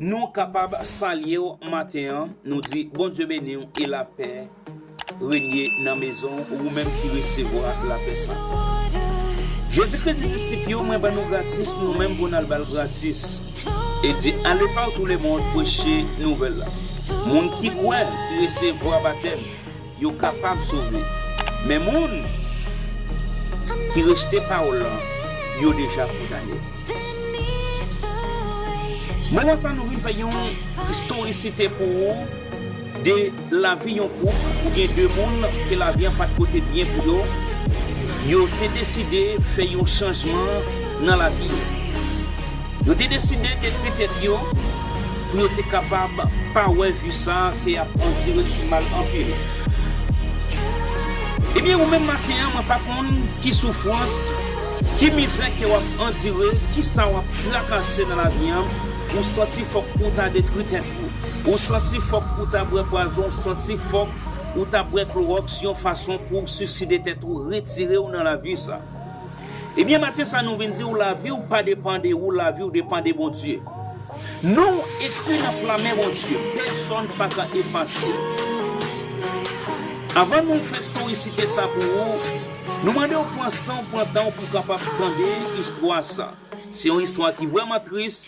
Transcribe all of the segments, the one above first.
Nou kapab salye w maten an, nou di Bondye beni w e lapè renye nan mezon w ou menm ki resevwa lapè sa. Jezi Kris di disip yo, mwen ban nou gratis nou menm pou n al ba l gratis. E di ale pa w tou lemond preche nouvèl la. Moun ki kwè, ki resevwa batèm. Yo kapab sove. Men moun ki rejte pawòl lan, yo deja kondane. Moman sa nou vin fè yon istorisite pou ou de lavi yon koup ou byen de moun ke lavi an pat pote byen pou yo, yo te deside fè yon chanjman nan lavi yo. Yo te deside detwi tèt yo pou yo te kapab pa wè vi sa ke yap andire ki mal anpil. Ebyen ou menm maten an mwen pa konn ki soufrans, ki mizè ke wap andire, kisa wap trakase nan lavi an, ou santi fòk ou ta detwi tèt ou, ou santi fòk ou ta bwè pwazon, ou santi fòk ou ta bwè klorox yon fason pouw siside tèt ou, retirew nan lavi sa. Ebyen maten sa nou vin di w laviw pa depan de ou laviw depan de Bondye Nou ekri nan pla men Bondye pèsòn pa ka efase l Avan nou fè estorysite sa pou ou nou mande w pran san w pran tan w pou w kapab tande istwa sa se yon istwa ki vrèman tris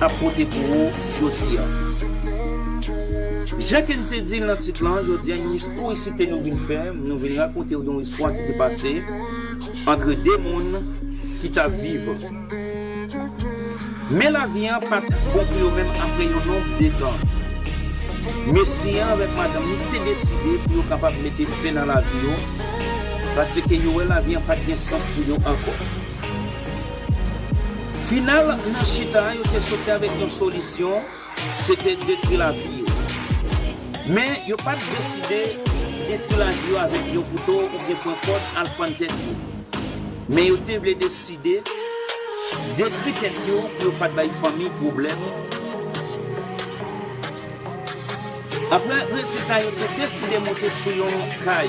ap pote pou ou jodi a. Jan ke n te di l nan tit lan, jodi a yon istorisite nou vin fè, nou vin rakonte w yon istwa ki te pase antre 2 moun ki t ap viv. Men lavi an pa t bon pou yo menm apre yon nonb de tan. Mesye an avèk madanm li te deside pou yo kapab mete fen nan lavi yo, pase ke yo wè lavi an pa t gen sans pou yo ankò. Final nan chita a yo te soti avèk yon solisyon, se te detwi lavi yo. Men, yo pa t deside detwi lavi yo avèk yon kouto oubyen pran kòd al pann tèt yo. Men yo te vle deside detwi tèt yo pou yo pa t bay fanmi pwoblèm. Apre rezilta yo te deside monte sou yon kay.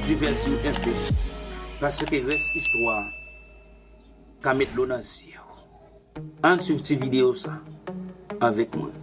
Divètiw enpe, paske rès istwa a ka met dlo nan zyew. Ann swiv ti videyo sa avèk mwen.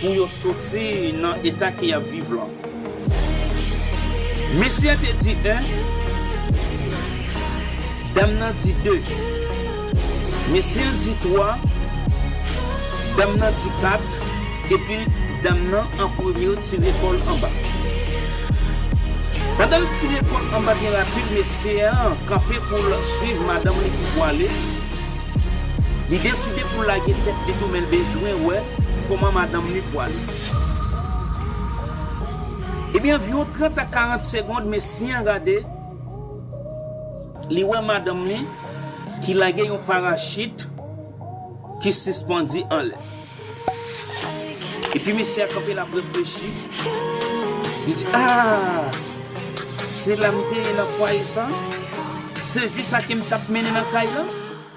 Pou yo soti nan eta ke yap viv lan. Mesye an te di 1. Dam nan di 2. Mesye an di 3. Dam nan di 4. Epi dam nan an premye tire kòl anba. Pandan l tire kòl anba byen rapid mesye an kanpe pou l swiv madanm li pou pwale. Li deside pou l lage tèt li tou men l bezwen wè Koman madanm li pwale. Ebyen anviwon 30 a 40 segond mesye an gade li wè madanm li ki lage yon parachit ki sispandi anlè. Epi mesye a kanpe lap reflechi li di aah se la m te ye nan fwaye sa? Se vi sa ke m tap mennen nan kay lan?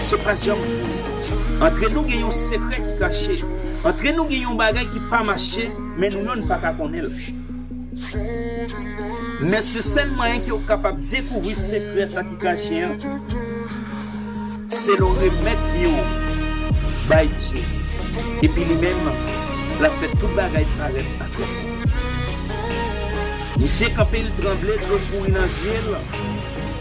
Se pa janm fini. Antre nou gen yon sekrè ki kache. Antre nou gen yon bagay ki pa mache, men nou menm nou pa ka konnen l. Men se sèl mwayen ke ou kapab dekouvri sekrè sa ki kache an, se lè w remèt vi w bay Dye. Epi li menm, l ap fè tout bagay parèt aklè pou ou. Misye kanpe, li tranble, dlo kouri nan zye l.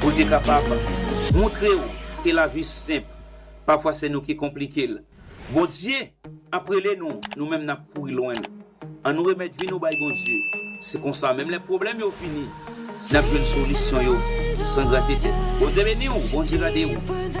Pou l te kapab montre w ke lavi senp, pafwa se nou ki konplike l. Bondye ap rele nou, nou menm n ap kouri lwen l. An nou remèt vi nou bay Bondye, se konsa menm lè pwoblèm yo vini, n ap jwenn solisyon yo san grate tèt. Bondye beni w, Bondye gade w.